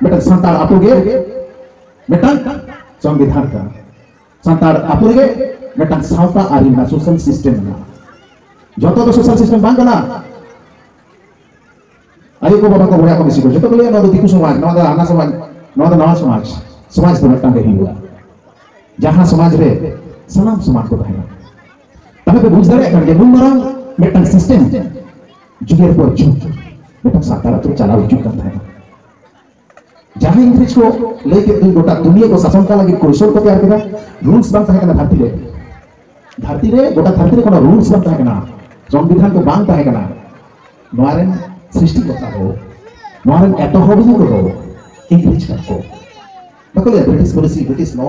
ᱢᱤᱫᱴᱟᱝ ᱥᱟᱱᱛᱟᱲ ᱟᱛᱳ ᱜᱮ ᱢᱤᱫᱴᱟᱝ ᱥᱚᱝᱵᱤᱫᱷᱟᱱ ᱠᱟᱱᱟ ᱥᱟᱱᱛᱟᱲ ᱟᱛᱳ ᱨᱮᱜᱮ ᱢᱤᱫᱴᱟᱝ ᱥᱟᱶᱛᱟ ᱟᱹᱨᱤ ᱢᱮᱱᱟᱜᱼᱟ ᱥᱳᱥᱟᱞ ᱥᱤᱥᱴᱮᱢ ᱢᱮᱱᱟᱜᱼᱟ ᱡᱚᱛᱚ ᱫᱚ ᱥᱳᱥᱟᱞ ᱥᱤᱥᱴᱮᱢ ᱵᱟᱝ ᱠᱟᱱᱟ ᱟᱭᱳ ᱠᱚ ᱵᱟᱵᱟ ᱠᱚ ᱵᱚᱭᱦᱟ ᱠᱚ ᱢᱤᱥᱤ ᱠᱚ ᱡᱚᱛᱚ ᱠᱚ ᱞᱟᱹᱭᱟ ᱱᱚᱣᱟ ᱫᱚ ᱫᱤᱠᱩ ᱥᱚᱢᱟᱡᱽ ᱱᱚᱣᱟ ᱫᱚ ᱦᱟᱱᱟ ᱥᱚᱢᱟᱡᱽ ᱱᱚᱣᱟ ᱫᱚ ᱱᱟᱣᱟ ᱥᱚᱢᱟᱡᱽ ᱥᱚᱢᱟᱡᱽ ᱫᱚ ᱢᱤᱫᱴᱟᱝ ᱜᱮ ᱦᱩᱭᱩᱜᱼᱟ ᱡᱟᱦᱟᱸ ᱥᱚᱢᱟᱡᱽ ᱨᱮ ᱥᱟᱱᱟᱢ ᱥᱚᱢᱟᱡᱽ ᱠᱚ ᱛᱟᱦᱮᱱᱟ ᱛᱟᱦᱞᱮ ᱯᱮ ᱵᱩᱡᱽ ᱫᱟᱲᱮᱭᱟᱜ ᱠᱟᱱ ᱜᱮᱭᱟ ᱱᱩᱱ ᱢᱟᱨᱟᱝ ᱢᱤᱫᱴᱟᱝ ᱥᱤᱥᱴᱮᱢ ᱡᱩᱜᱮᱨ ᱯᱚᱨ ᱡᱩᱜᱽ ᱢᱤᱫᱴᱟᱝ ᱥᱟᱱᱛᱟᱲ ᱟᱛᱳ ᱪᱟᱞᱟᱣ ᱦᱤᱡᱩᱜ ᱠᱟᱱ ᱛᱟᱦᱮᱸᱱᱟ ᱡᱟᱦᱟᱸ ᱤᱝᱨᱮᱡᱽ ᱠᱚ ᱞᱟᱹᱭ ᱠᱮᱫ ᱫᱩᱧ ᱜᱚᱴᱟ ᱫᱩᱱᱤᱭᱟᱹ ᱠᱚ ᱥᱟᱥᱚᱱ ᱠᱟᱜ ᱞᱟᱹᱜᱤᱫ ᱠᱚᱭᱥᱚᱞ ᱠᱚ ᱛᱮᱭᱟᱨ ᱠᱮᱫᱟ ᱨᱩᱞᱥ ᱵᱟᱝ ᱛᱟᱦᱮᱸ ᱠᱟᱱᱟ ᱫᱷᱟᱹᱨᱛᱤ ᱨᱮ ᱫᱷᱟᱹᱨᱛᱤ ᱨᱮ ᱜᱚᱴᱟ ᱫᱷᱟᱹᱨᱛᱤ ᱨᱮ ᱠᱳᱱᱳ ᱨᱩᱞᱥ ᱵᱟᱝ ᱛᱟᱦᱮᱸ ᱠᱟᱱᱟ ᱥᱚᱝᱵᱤᱫᱷᱟᱱ ᱠᱚ ᱵᱟᱝ ᱛᱟᱦᱮᱸ ᱠᱟᱱᱟ ᱱᱚᱣᱟ ᱨᱮᱱ ᱥᱨᱤᱥᱴᱤ ᱠᱚᱨᱛᱟ ᱫᱚ ᱱᱚᱣᱟ ᱨᱮᱱ ᱮᱛᱚᱦᱚᱵᱤᱭᱟᱹ ᱠᱚᱫᱚ ᱤᱝᱨᱮᱡᱽ ᱠᱟᱱᱟ ᱠᱚ ᱵᱟᱠᱚ ᱞᱟᱹᱭᱟ ᱵᱨᱤᱴᱤᱥ ᱯᱚᱞᱤᱥᱤ ᱵᱨᱤᱴᱤᱥ ᱞᱚ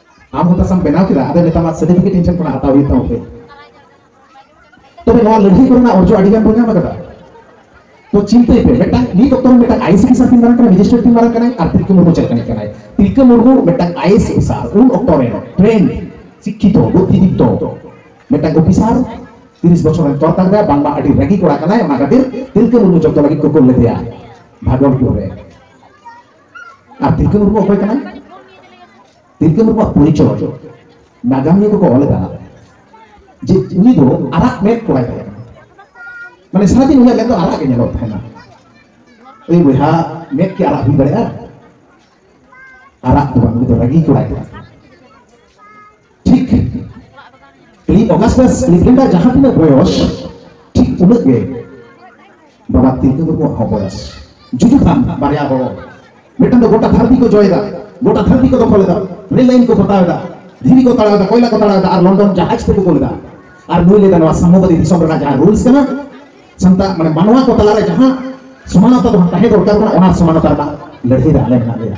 ᱟᱢ ᱦᱚᱸ ᱛᱟᱥᱟᱢ ᱵᱮᱱᱟᱣ ᱠᱮᱫᱟ ᱟᱫᱚ ᱱᱮᱛᱟᱨ ᱢᱟ ᱥᱟᱨᱴᱤᱯᱷᱤᱠᱮᱴ ᱤᱧ ᱴᱷᱮᱱ ᱠᱷᱚᱱᱟᱜ ᱦᱟᱛᱟᱣ ᱦᱩᱭᱩᱜ ᱛᱟᱢᱟ ᱯᱮ ᱛᱚᱵᱮ ᱱᱚᱣᱟ ᱞᱟᱹᱲᱦᱟᱹᱭ ᱠᱚᱨᱮᱱᱟᱜ ᱚᱨᱡᱚ ᱟᱹᱰᱤ ᱜᱟᱱ ᱵᱚᱱ ᱧᱟᱢ ᱟᱠᱟᱫᱟ ᱛᱚ ᱪᱤᱱᱛᱟᱹᱭ ᱯᱮ ᱢᱤᱫᱴᱟᱝ ᱱᱤᱛ ᱚᱠᱛᱚ ᱨᱮ ᱢᱤᱫᱴᱟᱝ ᱟᱭᱮᱥ ᱚᱯᱷᱤᱥᱟᱨ ᱛᱤᱱ ᱢᱟᱨᱟᱝ ᱠᱟᱱᱟᱭ ᱢᱮᱡᱤᱥᱴᱨᱮᱴ ᱛᱤᱱ ᱢᱟᱨᱟᱝ ᱠᱟᱱᱟᱭ ᱟᱨ ᱛᱤᱞᱠᱟᱹ ᱢᱩᱨᱢᱩ ᱪᱮᱫ ᱞᱮᱠᱟᱱᱤᱡ ᱠᱟᱱᱟᱭ ᱛᱤᱞᱠᱟᱹ ᱢᱩᱨᱢᱩ ᱢᱤᱫᱴᱟᱝ ᱟᱭᱮᱥ ᱚᱯᱷᱤᱥᱟᱨ ᱩᱱ ᱚᱠᱛᱚ ᱨᱮ ᱴᱨᱮᱱ ᱥᱤᱠᱠᱷᱤᱛᱚ ᱵᱩᱫᱽᱫᱷᱤᱫᱤᱯᱛᱚ ᱢᱤᱫᱴᱟᱝ ᱚᱯᱷᱤᱥᱟᱨ ᱛᱤᱨᱤᱥ ᱵᱚᱪᱷᱚᱨ ᱨᱮᱱ ᱛᱚᱨᱠᱟᱨ ᱫᱟᱭ ᱵᱟᱝᱢᱟ ᱟᱹᱰᱤ ᱨᱟᱹᱜᱤ ᱠᱚᱲᱟ ᱠᱟᱱᱟᱭ ᱚᱱᱟ ᱠᱷᱟᱹᱛᱤᱨ ᱛᱤᱞᱠᱟᱹ ᱢᱩᱨᱢᱩ ᱡᱚᱵᱫᱚ ᱞᱟᱹᱜᱤᱫ ᱠᱚ ᱠᱩᱞ ᱞᱮᱫᱮᱭᱟ ᱵᱷᱟᱜᱚᱞᱯᱩᱨ ᱨᱮ ᱟᱨ ᱛᱤᱞᱠᱟᱹ ᱢᱩᱨᱢᱩ ᱚᱠᱚᱭ ᱠᱟᱱᱟᱭ ᱛᱤᱞᱠᱟᱹ ᱢᱩᱨᱢᱩᱣᱟᱜ ᱯᱚᱨᱤᱪᱚᱭ ᱱᱟᱜᱟᱢᱤᱭᱟᱹ ᱠᱚᱠᱚ ᱚᱞ ᱠᱟᱱᱟ ᱡᱮ ᱩᱱᱤ ᱫᱚ ᱟᱨᱟᱜ ᱢᱮᱫ ᱠᱚᱲᱟᱭ ᱛᱟᱦᱮᱸ ᱠᱟᱱᱟ ᱢᱟᱱᱮ ᱥᱟᱨᱟᱫᱤᱱ ᱩᱱᱤᱭᱟᱜ ᱢᱮᱫ ᱫᱚ ᱟᱨᱟᱜ ᱜᱮ ᱧᱮᱞᱚᱜ ᱛᱟᱦᱮᱱᱟ ᱮᱭ ᱵᱚᱭᱦᱟ ᱢᱮᱫ ᱠᱤ ᱟᱨᱟᱜ ᱦᱩᱭ ᱫᱟᱲᱮᱭᱟᱜᱼᱟ ᱟᱨᱟᱜ ᱫᱚ ᱵᱟᱝ ᱩᱱᱤ ᱫᱚ ᱨᱟᱹᱜᱤ ᱠᱚᱲᱟᱭ ᱛᱟᱦᱮᱸ ᱴᱷᱤᱠ ᱩᱱᱤ ᱚᱜᱟᱥᱴᱟᱥ ᱞᱤᱯᱨᱤᱱᱰᱟ ᱡᱟᱦᱟᱸ ᱛᱤᱱᱟᱹᱜ ᱵᱚᱭᱚᱥ ᱴᱷᱤᱠ ᱩᱱᱟᱹᱜ ᱜᱮ ᱵᱟᱵᱟ ᱛᱤᱞᱠᱟᱹ ᱢᱩᱨᱢᱩᱣᱟᱜ ᱦᱚᱸ ᱵᱚᱭᱚᱥ ᱡᱩᱫᱤ ᱵᱟᱝ ᱵᱟᱨᱭᱟ ᱦᱚᱲ ᱢᱤᱫᱴᱟᱝ ᱫᱚ ᱜᱚᱴᱟ ᱫᱷᱟᱹᱨᱛᱤ ᱠᱚ ᱡᱚᱭᱮᱫᱟ ᱜᱚᱴᱟ ᱫᱷᱟᱹᱨᱛᱤ ᱠᱚ ᱫᱚᱠᱷᱚᱞᱮᱫᱟ ᱨᱮᱞ ᱞᱟᱭᱤᱱ ᱠᱚ ᱯᱚᱛᱟᱣᱮᱫᱟ ᱫᱷᱤᱨᱤ ᱠᱚ ᱛᱟᱲᱟᱣᱮᱫᱟ ᱠᱚᱭᱞᱟ ᱠᱚ ᱛᱟᱲᱟᱣᱮᱫᱟ ᱟᱨ ᱞᱚᱱᱰᱚᱱ ᱡᱟᱦᱟᱡᱽ ᱛᱮᱠᱚ ᱠᱳᱞᱮᱫᱟ ᱟᱨ ᱱᱩᱭ ᱞᱮᱫᱟ ᱱᱚᱣᱟ ᱥᱟᱢᱚᱵᱟᱫᱤ ᱫᱤᱥᱚᱢ ᱨᱮᱱᱟᱜ ᱡᱟᱦᱟᱸ ᱨᱩᱞᱥ ᱠᱟᱱᱟ ᱥᱟᱱᱛᱟᱲ ᱢᱟᱱᱮ ᱢᱟᱱᱣᱟ ᱠᱚ ᱛᱟᱞᱟᱨᱮ ᱡᱟᱦᱟᱸ ᱥᱚᱢᱟᱱᱚᱛᱟ ᱫᱚ ᱛᱟᱦᱮᱸ ᱫᱚᱨᱠᱟᱨ ᱠᱟᱱᱟ ᱚᱱᱟ ᱥᱚᱢᱟᱱᱚᱛᱟ ᱨᱮᱱᱟᱜ ᱞᱟᱹᱲᱦᱟᱹᱭ ᱨᱮ ᱟᱞᱮ ᱢᱮᱱᱟᱜ ᱞᱮᱭᱟ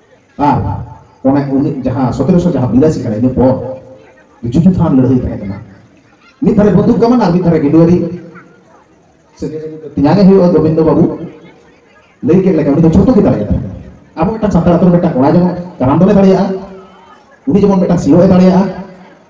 ᱟᱨ ᱚᱱᱮ ᱩᱱᱤ ᱡᱟᱦᱟᱸ ᱥᱚᱛᱮᱨᱚᱥᱚ ᱡᱟᱦᱟᱸ ᱵᱤᱨᱟᱥᱤ ᱠᱟᱱᱟ ᱤᱱᱟᱹ ᱯᱚᱨ ᱡᱩᱡᱩ ᱛᱷᱟᱱ ᱞᱟᱹᱲᱦᱟᱹᱭ ᱛᱟᱦᱮᱸ ᱠᱟᱱᱟ ᱢᱤᱫ ᱫᱷᱟᱨᱮ ᱵᱚᱱᱫᱩᱠ ᱠᱟᱢᱟᱱ ᱟᱨ ᱢᱤᱫ ᱫᱷᱟᱨᱮ ᱜᱤᱰᱩᱣᱟᱨᱤ ᱛᱮᱧᱟᱝᱮ ᱦᱩᱭᱩᱜᱼᱟ ᱜᱳᱵᱤᱱᱫᱚ ᱵᱟᱹᱵᱩ ᱞᱟᱹᱭ ᱠᱮᱫ ᱞᱮᱠᱟ ᱩᱱᱤ ᱫᱚ ᱡᱷᱚᱛᱚ ᱜᱮ ᱫᱟᱲᱮᱭᱟᱜ ᱛᱟᱦᱮᱸ ᱟᱵᱚ ᱢᱤᱫᱴᱟᱝ ᱥᱟᱱᱛᱟᱲ ᱟᱛᱳ ᱨᱮ ᱢᱤᱫᱴᱟᱝ ᱠᱚᱲᱟ ᱡᱮᱢᱚᱱ ᱠᱟᱨᱟᱢ ᱫᱚᱱᱮ ᱫᱟᱲᱮᱭᱟᱜᱼᱟ ᱩᱱᱤ ᱡᱮᱢᱚᱱ ᱢᱤᱫᱴᱟᱝ ᱥᱤᱭᱳᱜ ᱮ ᱫᱟᱲᱮᱭᱟᱜᱼᱟ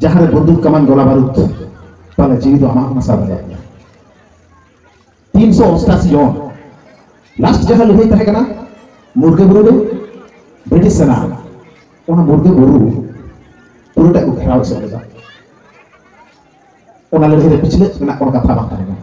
ᱡᱟᱦᱟᱸ ᱨᱮ ᱵᱚᱱᱫᱩᱠ ᱠᱟᱢᱟᱱ ᱜᱚᱞᱟ ᱵᱟᱨᱩᱫ ᱛᱟᱦᱚᱞᱮ ᱡᱤᱣᱤ ᱫᱚ ᱟᱢᱟᱜ ᱱᱟᱥᱟᱣ ᱫᱟᱲᱮᱭᱟᱜ ᱜᱮᱭᱟ ᱛᱤᱱ ᱥᱚ ᱚᱥᱴᱟᱥᱤ ᱡᱚᱱ ᱞᱟᱥᱴ ᱡᱟᱦᱟᱸ ᱞᱟᱹᱲᱦᱟᱹᱭ ᱛᱟᱦᱮᱸ ᱠᱟᱱᱟ ᱢᱩᱨᱜᱟᱹ ᱵᱩᱨᱩ ᱨᱮ ᱵᱨᱤᱴᱤᱥ ᱥᱮᱱᱟ ᱚᱱᱟ ᱢᱩᱨᱜᱟᱹ ᱵᱩᱨᱩ ᱯᱩᱨᱟᱹᱴᱟᱜ ᱠᱚ ᱜᱷᱮᱨᱟᱣ ᱮᱥᱮᱫ ᱞᱮᱫᱟ ᱚᱱᱟ ᱞᱟᱹᱲᱦᱟᱹᱭ ᱨᱮ ᱯᱤᱪᱷᱞᱟᱹᱜ ᱨᱮᱱᱟᱜ ᱠᱚᱱᱚ ᱠᱟᱛᱷᱟ ᱵᱟᱝ ᱛᱟᱦᱮᱸ ᱠᱟᱱᱟ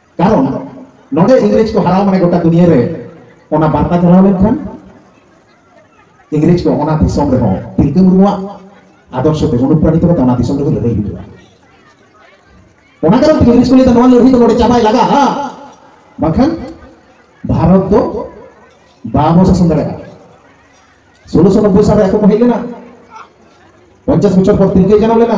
ᱠᱟᱨᱚᱱ ᱱᱚᱰᱮ ᱤᱝᱨᱮᱡᱽ ᱠᱚ ᱦᱟᱨᱟᱣ ᱢᱟᱱᱮ ᱜᱚᱴᱟ ᱫᱩᱱᱤᱭᱟᱹ ᱨᱮ ᱚᱱᱟ ᱵᱟᱨᱛᱟ ᱪᱟᱞᱟᱣ ᱞᱮᱱᱠᱷᱟᱱ ᱤᱝᱨᱮᱡᱽ ᱠᱚ ᱚᱱᱟ ᱫᱤᱥᱚᱢ ᱨᱮᱦᱚᱸ ᱛᱤᱞᱠᱟᱹ ᱢᱩᱨᱢᱩᱣᱟᱜ ᱟᱫᱚᱨᱥᱚ ᱛᱮ ᱚᱱᱩᱯᱨᱟᱱᱤᱛ ᱠᱟᱛᱮ ᱚᱱᱟ ᱫᱤᱥᱚᱢ ᱨᱮᱦᱚᱸ ᱞᱟᱹᱲᱦᱟᱹᱭ ᱦᱩᱭᱩᱜᱼᱟ ᱚᱱᱟ ᱠᱟᱨᱚᱱ ᱛᱮ ᱤᱝᱨᱮᱡᱽ ᱠᱚ ᱞᱟᱹᱭᱫᱟ ᱱᱚᱣᱟ ᱞᱟᱹᱲᱦᱟᱹᱭ ᱫᱚ ᱱᱚᱰᱮ ᱪᱟᱵᱟᱭ ᱞᱟᱜᱟᱜᱼᱟ ᱵᱟᱝᱠᱷᱟᱱ ᱵᱷᱟᱨᱚᱛ ᱫᱚ ᱵᱟᱵᱚ ᱥᱟᱥᱚᱱ ᱫᱟᱲᱮᱭᱟᱜᱼᱟ ᱥᱳᱞᱳᱥᱚ ᱱᱚᱵᱽᱵᱳᱭ ᱥᱟᱞᱨᱮ ᱟᱠᱚ ᱠᱚ ᱦᱮᱡ ᱞᱮᱱᱟ ᱯᱚᱧᱪᱟᱥ ᱵᱚᱪᱷᱚᱨ ᱯᱚᱨ ᱛᱤᱞᱠᱟᱹᱭ ᱡᱟᱱᱟᱢ ᱞᱮᱱᱟ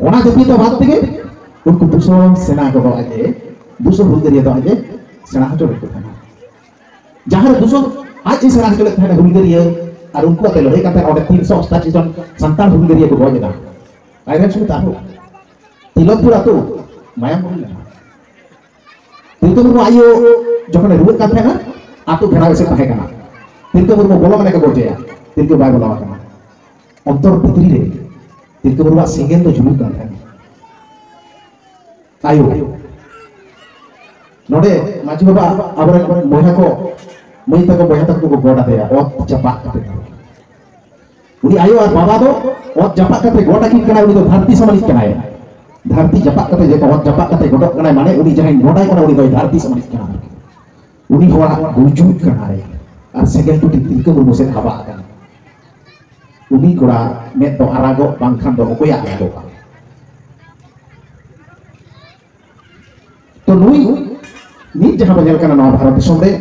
ᱚᱱᱟ ᱡᱟᱹᱛᱤ ᱫᱚ ᱵᱟᱫ ᱛᱮᱜᱮ ᱩᱱᱠᱩ ᱫᱩᱥᱚ ᱥᱮᱱᱟ ᱠᱚᱫᱚ ᱟᱡ ᱮ ᱫᱩᱥᱚ ᱦᱩᱞᱜᱟᱹᱨᱤᱭᱟᱹ ᱫᱚ ᱟᱡ ᱮ ᱥᱮᱬᱟ ᱦᱚᱪᱚ ᱞᱮᱫ ᱠᱚ ᱛᱟᱦᱮᱱᱟ ᱡᱟᱦᱟᱸ ᱨᱮ ᱫᱩᱥᱚ ᱟᱡ ᱮ ᱥᱮᱬᱟ ᱦᱚᱪᱚ ᱞᱮᱫ ᱛᱟᱦᱮᱱᱟ ᱦᱩᱞᱜᱟᱹᱨᱤᱭᱟᱹ ᱟᱨ ᱩᱱᱠᱩ ᱟᱛᱮ ᱞᱟᱹᱲᱦᱟᱹᱭ ᱠᱟᱛᱮ ᱚᱸᱰᱮ ᱛᱤᱱ ᱥᱚ ᱚᱥᱴᱟᱥᱤ ᱡᱚᱱ ᱥᱟᱱᱛᱟᱲ ᱦᱩᱞᱜᱟᱹᱨᱤᱭᱟᱹ ᱠᱚ ᱜᱚᱡ ᱮᱱᱟ ᱟᱭᱨᱮᱱ ᱥᱩᱢᱤᱛ ᱟᱨᱦᱚᱸ ᱛᱤᱞᱚᱠᱯᱩᱨ ᱟᱛᱳ ᱢᱟᱭᱟᱢ ᱦᱩᱭ ᱞᱮᱱᱟ ᱯᱤᱱᱛᱩ ᱢᱩᱨᱢᱩ ᱟᱭᱳ ᱡᱚᱠᱷᱚᱱᱮ ᱨᱩᱣᱟᱹᱜ ᱠᱟᱱ ᱛᱟᱦᱮᱸᱱᱟ ᱟᱛᱳ ᱜᱷᱮᱨᱟᱣ ᱮᱥᱮᱫ ᱛᱟᱦᱮᱸ ᱠᱟᱱᱟ ᱯᱤᱱᱛᱩ ᱢᱩᱨᱢᱩ ᱵᱚᱞᱚ ᱢᱟᱱᱮ ᱠᱚ ᱜᱚᱡᱮᱭᱟ ᱯᱤᱱᱛᱩ ᱵᱟᱭ ᱵᱚᱞᱚ ᱟᱠᱟᱱᱟ ᱚᱱᱛᱚᱨ ᱵᱷᱤᱛᱨᱤ ᱨᱮ ᱯᱤᱱᱛᱩ ᱢᱩᱨᱢᱩᱣᱟᱜ ᱥᱮᱸᱜᱮᱞ ᱫᱚ ᱡᱩᱞᱩᱜ ᱠᱟᱱ ᱛᱟᱦᱮᱸᱱᱟ ᱟᱭᱳ ᱱᱚᱰᱮ ᱢᱟᱹᱡᱷᱤ ᱵᱟᱵᱟ ᱟᱵᱚᱨᱮᱱ ᱵᱚᱭᱦᱟ ᱠᱚ ᱢᱟᱹᱭ ᱛᱟᱠᱚ ᱵᱚᱭᱦᱟ ᱛᱟᱠᱚ ᱠᱚ ᱜᱚᱰ ᱟᱫᱮᱭᱟ ᱚᱛ ᱪᱟᱯᱟᱜ ᱠᱟᱛᱮ ᱩᱱᱤ ᱟᱭᱳ ᱟᱨ ᱵᱟᱵᱟ ᱫᱚ ᱚᱛ ᱡᱟᱯᱟᱜ ᱠᱟᱛᱮ ᱜᱚᱴ ᱟᱹᱠᱤᱱ ᱠᱟᱱᱟᱭ ᱩᱱᱤ ᱫᱚ ᱫᱷᱟᱹᱨᱛᱤ ᱥᱚᱢᱟᱱᱤᱡ ᱠᱟᱱᱟᱭ ᱫᱷᱟᱹᱨᱛᱤ ᱡᱟᱯᱟᱜ ᱠᱟᱛᱮ ᱡᱮ ᱚᱛ ᱡᱟᱯᱟᱜ ᱠᱟᱛᱮ ᱜᱚᱰᱚᱜ ᱠᱟᱱᱟᱭ ᱢᱟᱱᱮ ᱩᱱᱤ ᱡᱟᱦᱟᱸᱭ ᱜᱚᱰᱟᱭ ᱠᱟᱱᱟ ᱩᱱᱤ ᱫᱚᱭ ᱫᱷᱟᱹᱨᱛᱤ ᱥᱚᱢᱟᱱᱤᱡ ᱠᱟᱱᱟ ᱩᱱᱤ ᱦᱚᱲᱟᱜ ᱜᱩᱡᱩᱜ ᱠᱟᱱᱟᱭ ᱟᱨ ᱥᱮᱸᱜᱮᱞ ᱴᱩᱴᱤ ᱛᱤᱞᱠᱟᱹ ᱢᱩᱨᱢᱩ ᱥᱮᱫ ᱦᱟᱵᱟᱜ ᱠᱟᱱᱟ ᱩᱱᱤ ᱠᱚᱲᱟ ᱢᱮᱫ ᱫᱚ ᱟᱨᱟᱜᱚᱜ ᱵᱟᱝᱠᱷᱟᱱ ᱫᱚ ᱚᱠᱚᱭᱟᱜ ᱟᱨᱟᱜᱚᱜᱼᱟ ᱛᱚ ᱱᱩᱭ ᱱᱤᱛ ᱡᱟᱦᱟᱸ ᱵᱚᱱ ᱧᱮᱞ ᱠᱟᱱᱟ ᱱᱚᱣᱟ ᱵᱷᱟᱨᱚᱛ ᱫᱤᱥᱚᱢ ᱨᱮ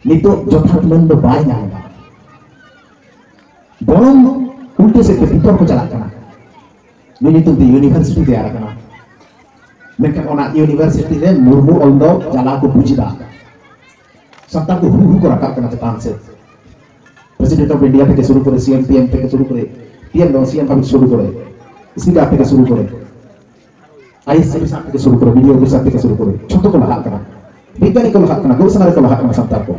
ᱱᱤᱛᱚᱜ ᱡᱚᱛᱷᱟᱛ ᱢᱟᱹᱱ ᱫᱚ ᱵᱟᱭ ᱧᱟᱢ ᱮᱫᱟ ᱵᱚᱨᱚᱝ ᱩᱞᱴᱟᱹ ᱥᱮᱫ ᱛᱮ ᱵᱤᱛᱚᱨ ᱠᱚ ᱪᱟᱞᱟᱜ ᱠᱟᱱᱟ ᱱᱩᱭ ᱧᱩᱛᱩᱢ ᱛᱮ ᱤᱭᱩᱱᱤᱵᱷᱟᱨᱥᱤᱴᱤ ᱛᱮᱭᱟᱨ ᱟᱠᱟᱱᱟ ᱢᱮᱱᱠᱷᱟᱱ ᱚᱱᱟ ᱤᱭᱩᱱᱤᱵᱷᱟᱨᱥᱤᱴᱤ ᱨᱮ ᱢᱩᱨᱢᱩ ᱚᱞ ᱫᱚ ᱡᱟᱞᱟ ᱠᱚ ᱵᱩᱡᱽ ᱮᱫᱟ ᱥᱟᱱᱛᱟᱲ ᱠᱚ ᱦᱩᱲᱩ ᱠᱚ ᱨᱟᱠᱟᱵ ᱠᱟᱱᱟ ᱪᱮᱛᱟᱱ ᱥᱮᱫ ᱯᱨᱮᱥᱤᱰᱮᱱᱴ ᱚᱯᱷ ᱤᱱᱰᱤᱭᱟ ᱛᱷᱮᱠᱮ ᱥᱩᱨᱩ ᱠᱚᱨᱮ ᱥᱤᱮᱢ ᱯᱤᱮᱢ ᱛᱷᱮᱠᱮ ᱥᱩᱨᱩ ᱠᱚᱨᱮ ᱯᱤᱮᱢ ᱫᱚ ᱥᱤᱮᱢ ᱫᱷᱟᱹᱵᱤᱡ ᱥᱩᱨᱩ ᱠᱚᱨᱮ ᱥᱯᱤᱠᱟᱨ ᱛᱷᱮᱠᱮ ᱥᱩᱨᱩ ᱠᱚᱨᱮ ᱟᱭᱮᱥ ᱚᱯᱷᱤᱥᱟᱨ ᱛᱷᱮᱠᱮ ᱥᱩᱨᱩ ᱠᱚᱨᱮ ᱵᱤᱰᱤᱳ ᱚᱯᱷᱤᱥᱟᱨ ᱛᱷᱮᱠᱮ ᱥᱩᱨᱩ ᱠᱚᱨᱮ ᱡᱷᱚᱛᱚ ᱠᱚ ᱞᱟᱦᱟᱜ ᱠᱟᱱᱟ ᱵᱤᱜᱽᱜᱟᱱᱤ ᱠᱚ ᱞᱟᱦᱟᱜ ᱠᱟᱱᱟ ᱜᱚᱵᱮᱥᱚᱱᱟ ᱨᱮᱠᱚ ᱞᱟᱦᱟᱜ ᱠᱟᱱᱟ ᱥᱟᱱᱛᱟᱲ ᱠᱚ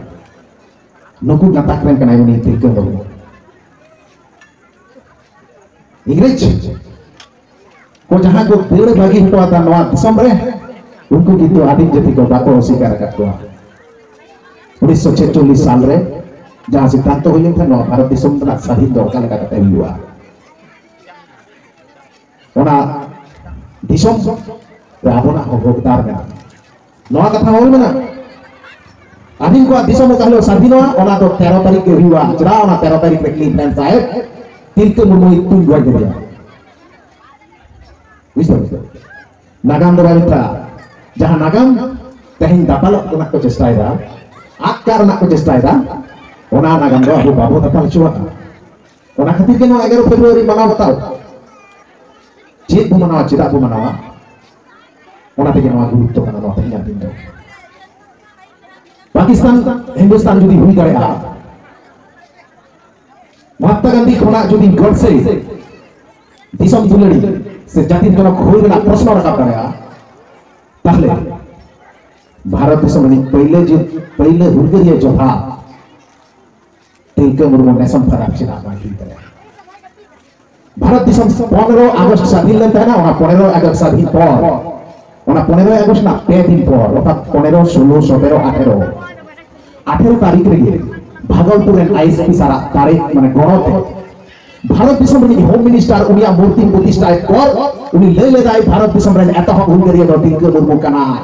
ᱱᱩᱠᱩ ᱜᱟᱛᱟᱠ ᱨᱮᱱ ᱠᱟᱱᱟᱭ ᱩᱱᱤ ᱛᱤᱞᱠᱟᱹ ᱢᱩᱨᱢᱩ ᱤᱝᱨᱮᱡᱽ ᱠᱚ ᱡᱟᱦᱟᱸ ᱠᱚ ᱫᱟᱹᱲ ᱵᱟᱹᱜᱤ ᱦᱚᱴᱚ ᱟᱫᱟ ᱱᱚᱣᱟ ᱫᱤᱥᱚᱢ ᱨᱮ ᱩᱱᱠᱩ ᱠᱤᱱᱛᱩ ᱟᱹᱰᱤ ᱡᱟᱹᱛᱤ ᱠᱚ ᱵᱟᱠᱚ ᱚᱥᱤᱠᱟᱨ ᱟᱠᱟᱫ ᱠᱚᱣᱟ ᱩᱱᱤᱥᱥᱚ ᱪᱷᱮᱪᱚᱞᱞᱤᱥ ᱥᱟᱞ ᱨᱮ ᱡᱟᱦᱟᱸ ᱥᱤᱫᱽᱫᱷᱟᱱᱛᱚ ᱦᱩᱭ ᱞᱮᱱ ᱛᱟᱦᱮᱸ ᱱᱚᱣᱟ ᱵᱷᱟᱨᱚᱛ ᱫᱤᱥᱚᱢ ᱨᱮᱱᱟᱜ ᱥᱟᱹᱫᱷᱤᱱ ᱫᱚ ᱚᱠᱟ ᱞᱮᱠᱟ ᱠᱟᱛᱮ ᱦᱩᱭᱩᱜᱼᱟ ᱚᱱᱟ ᱫᱤᱥᱚᱢ ᱨᱮ ᱟᱵᱚᱱᱟᱜ ᱦᱚᱸ ᱦᱚᱠᱫᱟᱨ ᱢᱮᱱᱟᱜᱼᱟ ᱱᱚᱣᱟ ᱠᱟᱛᱷᱟ ᱚᱞ ᱢᱮᱱᱟᱜ ᱟᱹᱵᱤᱱ ᱠᱚᱣᱟᱜ ᱫᱤᱥᱚᱢ ᱚᱠᱟ ᱦᱤᱞᱳᱜ ᱥᱟᱹᱫᱷᱤᱱᱚᱜᱼᱟ ᱚᱱᱟ ᱫᱚ ᱛᱮᱨᱚ ᱛᱟᱹᱨᱤᱠᱷ ᱜᱮ ᱦᱩᱭᱩᱜᱼᱟ ᱪᱮᱫᱟᱜ ᱚᱱᱟ ᱛᱮᱨᱚ ᱛᱟᱹᱨᱤᱠᱷ ᱨᱮ ᱠᱞᱤᱯᱞᱮᱱ ᱥᱟᱦᱮᱵᱽ ᱛᱤᱞᱠᱟᱹ ᱢᱩᱨᱢᱩᱭ ᱛᱩᱞ ᱜᱚᱡ ᱠᱮᱫᱮᱭᱟ ᱵᱩᱡᱷᱟᱹᱣ ᱱᱟᱜᱟᱢ ᱫᱚ ᱵᱟᱭ ᱢᱮᱛᱟᱜᱼᱟ ᱡᱟᱦᱟᱸ ᱱᱟᱜᱟᱢ ᱛᱮᱦᱮᱧ ᱫᱟᱯᱟᱞᱚᱜ ᱨᱮᱱᱟᱜ ᱠᱚ ᱪᱮᱥᱴᱟᱭᱮᱫᱟ ᱟᱫ ᱠᱟᱜ ᱨᱮᱱᱟᱜ ᱠᱚ ᱪᱮᱥᱴᱟᱭᱮᱫᱟ ᱚᱱᱟ ᱱᱟᱜᱟᱢ ᱫᱚ ᱟᱵᱚ ᱵᱟᱵᱚ ᱫᱟᱯᱟᱞ ᱦᱚᱪᱚᱣᱟᱜᱼᱟ ᱚᱱᱟ ᱠᱷᱟᱹᱛᱤᱨ ᱜᱮ ᱱᱚᱣᱟ ᱮᱜᱟᱨᱚ ᱯᱷᱮᱵᱽᱨᱩᱣᱟᱨᱤ ᱢᱟᱱᱟᱣ ᱵᱟᱛᱟᱣ ᱪᱮᱫ ᱵᱚ ᱢᱟᱱᱟᱣᱟ ᱪᱮᱫᱟᱜ ᱵᱚ ᱢᱟᱱᱟᱣᱟ ᱚᱱᱟ ᱛᱮᱜᱮ ᱱᱚᱣᱟ ᱜᱩᱨᱩᱛᱛᱚ ᱠᱟᱱᱟ ᱱᱚᱣᱟ ᱛᱮᱦᱮᱧᱟᱜ ᱫᱤᱱ ᱫᱚ ᱯᱟᱠᱤᱥᱛᱟᱱ ᱦᱤᱱᱫᱩᱥᱛᱟᱱ ᱡᱩᱫᱤ ᱦᱩᱭ ᱫᱟᱲᱮᱭᱟᱜᱼᱟ ᱢᱚᱦᱟᱛᱢᱟ ᱜᱟᱱᱫᱷᱤ ᱠᱷᱚᱱᱟᱜ ᱡᱩᱫᱤ ᱜᱚᱰᱥᱮ ᱫᱤᱥᱚᱢ ᱫᱩᱞᱟᱹᱲᱤ ᱥᱮ ᱡᱟᱹᱛᱤ ᱡᱚᱱᱚᱠ ᱦᱩᱭ ᱨᱮᱱᱟᱜ ᱯᱨᱚᱥᱱᱚ ᱨᱟᱠᱟᱵ ᱫᱟᱲᱮᱭᱟᱜᱼᱟ ᱛᱟᱦᱞᱮ ᱵᱷᱟᱨᱚᱛ ᱫᱤᱥᱚᱢ ᱨᱤᱱᱤᱡ ᱯᱟᱹᱭᱞᱟᱹ ᱯᱟᱹᱭᱞᱟᱹ ᱦᱩᱞᱜᱟᱹᱨᱤᱭᱟᱹ ᱡᱚᱫᱷᱟ ᱛᱤᱞᱠᱟᱹ ᱢᱩᱨᱢᱩ ᱱᱮᱥ ᱦᱚᱸ ᱯᱷᱟᱨᱟᱠ ᱪᱮᱫᱟᱜ ᱵᱟᱭ ᱦᱩᱭ ᱫᱟᱲᱮᱭᱟᱜᱼᱟ ᱵᱷᱟᱨᱚᱛ ᱫᱤᱥᱚᱢ ᱯᱚᱱᱨᱚ ᱟᱜᱚᱥᱴ ᱥᱟᱹᱫᱷᱤᱱ ᱞᱮᱱ ᱛᱟᱦᱮᱱᱟ ᱚᱱᱟ ᱯᱚᱱᱮᱨᱚ ᱟᱜᱚᱥᱴ ᱥᱟᱹᱫᱷᱤᱱ ᱯᱚᱨ ᱚᱱᱟ ᱯᱚᱱᱮᱨᱚ ᱟᱜᱚᱥᱴ ᱨᱮᱱᱟᱜ ᱯᱮ ᱫᱤᱱ ᱯᱚᱨ ᱚᱨᱛᱷᱟᱛ ᱯᱚᱱᱮᱨᱚ ᱥᱳᱞᱳ ᱥᱚᱛᱮᱨᱚ ᱟᱴᱷᱮᱨᱚ ᱟᱴᱷᱮᱨᱚ ᱛᱟᱹᱨᱤᱠᱷ ᱨᱮᱜᱮ ᱵᱷᱟᱜᱚᱞᱯᱩᱨ ᱨᱮᱱ ᱟᱭᱮᱥᱯᱤ ᱥᱟᱨᱟᱜ ᱫᱟᱲᱮ ᱢᱟᱱᱮ ᱜᱚᱲᱚ ᱛᱮ ᱵᱷᱟᱨᱚᱛ ᱫᱤᱥᱚᱢ ᱨᱤᱱᱤᱡ ᱦᱳᱢ ᱢᱤᱱᱤᱥᱴᱟᱨ ᱩᱱᱤᱭᱟᱜ ᱢᱩᱨᱛᱤ ᱯᱨᱚᱛᱤᱥᱴᱷᱟᱭ ᱯᱚᱨ ᱩᱱᱤ ᱞᱟᱹᱭ ᱞᱮᱫᱟᱭ ᱵᱷᱟᱨᱚᱛ ᱫᱤᱥᱚᱢ ᱨᱮᱱ ᱮᱛᱚᱦᱚᱵ ᱦᱩᱞᱜᱟᱹᱨᱤᱭᱟᱹ ᱫᱚ ᱛᱤᱞᱠᱟᱹ ᱢᱩᱨᱢᱩ ᱠᱟᱱᱟᱭ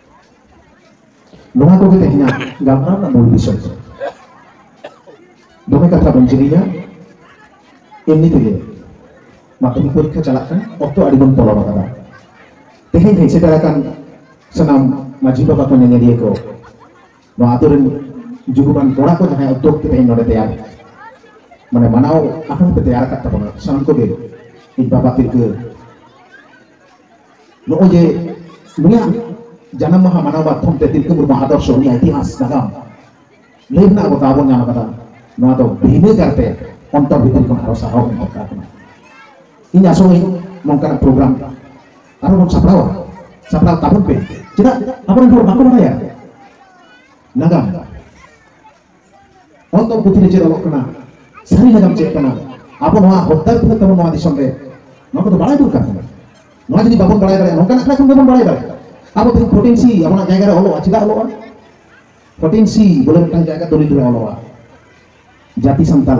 ᱱᱚᱣᱟ ᱠᱚᱜᱮ ᱛᱮᱦᱮᱧᱟᱜ ᱜᱟᱞᱢᱟᱨᱟᱣ ᱨᱮᱱᱟᱜ ᱢᱩᱞ ᱵᱤᱥᱚᱭ ᱫᱚ ᱫᱚᱢᱮ ᱠᱟᱛᱷᱟ ᱵᱟᱹᱧ ᱡᱤᱨᱤᱧᱟ ᱮᱢᱱᱤ ᱛᱮᱜᱮ ᱢᱟᱫᱽᱫᱷᱚᱢᱤᱠ ᱯᱚᱨᱤᱠᱠᱷᱟ ᱪᱟᱞᱟᱜ ᱠᱟᱱᱟ ᱚᱠᱛᱚ ᱟᱹᱰᱤ ᱵᱚᱱ ᱯᱚᱞᱚᱢ ᱟᱠᱟᱫᱟ ᱛᱮᱦᱮᱧ ᱦᱮᱡ ᱥᱮᱴᱮᱨ ᱟᱠᱟᱱ ᱥᱟᱱᱟᱢ ᱢᱟᱹᱡᱷᱤ ᱵᱟᱵᱟ ᱠᱚ ᱧᱮᱧᱮᱞᱤᱭᱟᱹ ᱠᱚ ᱱᱚᱣᱟ ᱟᱛᱳ ᱨᱮᱱ ᱡᱩᱜᱩᱢᱟᱱ ᱠᱚᱲᱟ ᱠᱚ ᱡᱟᱦᱟᱸᱭ ᱚᱠᱛᱚ ᱚᱠᱛᱮ ᱛᱮᱦᱮᱧ ᱱᱚᱰᱮ ᱛᱮᱭᱟᱨ ᱢᱟᱱᱮ ᱢᱟᱱᱟᱣ ᱟᱠᱟᱱ ᱯᱮ ᱛᱮᱭᱟᱨ ᱟᱠᱟᱫ ᱛᱟᱵᱚᱱᱟ ᱥᱟᱱᱟᱢ ᱠᱚᱜᱮ ᱤᱧ ᱵᱟᱵᱟ ᱛᱤᱞᱠᱟᱹ ᱱᱚᱜᱼᱚᱭ ᱡᱮ ᱱᱩᱭᱟᱜ ᱡᱟᱱᱟᱢ ᱢᱟᱦᱟ ᱢᱟᱱᱟᱣ ᱢᱟᱫᱽᱫᱷᱚᱢ ᱛᱮ ᱛᱤᱞᱠᱟᱹ ᱢᱩᱨᱢᱩ ᱟᱫᱚᱨᱥᱚ ᱩᱱᱤᱭᱟᱜ ᱤᱛᱤᱦᱟᱥ ᱱᱟᱜᱟᱢ ᱞᱟᱹᱭ ᱨᱮᱱᱟᱜ ᱟᱵᱚ ᱫᱟᱣ ᱵᱚᱱ ᱧᱟᱢ ᱟᱠᱟᱫᱟ ᱱᱚᱣᱟ ᱫᱚ ᱵᱷᱤᱱᱟᱹ ᱠᱟᱨᱛᱮ ᱚᱱᱛᱚᱨ ᱵᱷᱤᱛᱨᱤ ᱠᱷᱚᱱ ᱟᱨᱚ ᱥᱟᱨᱦᱟᱣ ᱮᱢ ᱫᱚᱨᱠᱟᱨ ᱠᱟᱱᱟ ᱤᱧ ᱟᱥᱚᱜᱼᱟᱹᱧ ᱱᱚᱝᱠᱟᱱᱟᱜ ᱯᱨᱳᱜᱨᱟᱢ ᱟᱨᱚ ᱵᱚᱱ ᱥᱟᱯᱲᱟᱣᱟ ᱥᱟᱯᱲᱟᱣ ᱛᱟᱵᱚᱱ ᱯᱮ ᱪᱮᱫᱟᱜ ᱟᱵᱚᱨᱮᱱ ᱦᱚᱲ ᱵᱟᱠᱚ ᱵᱟᱲᱟᱭᱟ ᱱᱟᱜᱟᱢ ᱚᱱᱛᱚᱨ ᱯᱩᱛᱷᱤ ᱨᱮ ᱪᱮᱫ ᱚᱞᱚᱜ ᱠᱟᱱᱟ ᱥᱟᱹᱨᱤ ᱱᱟᱜᱟᱢ ᱪᱮᱫ ᱠᱟᱱᱟ ᱟᱵᱚ ᱱᱚᱣᱟ ᱦᱚᱠᱫᱟᱨ ᱛᱤᱱᱟᱹᱜ ᱛᱟᱵᱚᱱ ᱱᱚᱣᱟ ᱫᱤᱥᱚᱢ ᱨᱮ ᱱᱚᱣᱟ ᱠᱚᱫᱚ ᱵᱟᱲᱟᱭ ᱫᱚᱨᱠᱟᱨ ᱠᱟᱱᱟ ᱱᱚᱣᱟ ᱡᱩᱫᱤ ᱵᱟᱵᱚᱱ ᱵᱟᱲᱟᱭ ᱫᱟᱲᱮᱭᱟᱜᱼᱟ ᱱᱚᱝᱠᱟᱱᱟᱜ ᱠᱟᱛᱷᱟ ᱠᱷᱚᱱ ᱜᱮᱵᱚᱱ ᱵᱟᱲᱟᱭ ᱫᱟᱲᱮᱭᱟᱜᱼᱟ ᱟᱵᱚ ᱛᱮᱦᱮᱧ ᱯᱷᱳᱨᱴᱤᱱ ᱥᱤ ᱟᱵᱚᱱᱟᱜ ᱡᱟᱭᱜᱟ ᱨᱮ ᱚᱞᱚᱜᱼᱟ ᱪᱮᱫᱟᱜ ᱚᱞᱚᱜᱼᱟ ᱯᱷᱳᱨᱴᱤᱱ ᱥᱤ ᱵᱚᱞᱮ ᱢᱤᱫᱴᱟᱝ ᱡᱟᱭᱜᱟ ᱫᱚᱞᱤᱞ ᱨᱮ ᱚᱞᱚᱜᱼᱟ ᱡᱟᱹᱛᱤ ᱥᱟᱱᱛᱟᱞ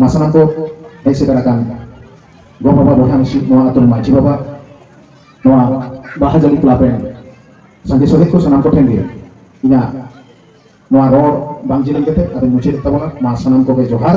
ᱢᱟᱥᱟᱱᱟᱢᱵᱚ ᱦᱮᱡ ᱥᱮᱴᱮᱨ ᱟᱠᱟᱱ ᱜᱚ ᱵᱟᱵᱟ ᱵᱚᱭᱦᱟ ᱢᱤᱥᱤ ᱱᱚᱣᱟ ᱟᱛᱳ ᱨᱮᱱ ᱢᱟᱹᱡᱷᱤ ᱵᱟᱵᱟ ᱱᱚᱣᱟ ᱵᱟᱦᱟ ᱡᱟᱹᱞᱤ ᱠᱞᱟᱵᱽ ᱨᱮᱱ ᱥᱟᱸᱜᱮ ᱥᱚᱦᱮᱫ ᱠᱚ ᱥᱟᱱᱟᱢ ᱠᱚᱴᱷᱮᱱ ᱜᱮ ᱤᱧᱟᱹᱜ ᱱᱚᱣᱟ ᱨᱚᱲ ᱵᱟᱝ ᱡᱮᱞᱮᱧ ᱠᱟᱛᱮ ᱟᱫᱚᱧ ᱢᱩᱪᱟᱹᱫ ᱛᱟᱵᱚᱱᱟ ᱢᱟ ᱥᱟᱱᱟᱢ ᱠᱚᱜᱮ ᱡᱚᱦᱟᱨ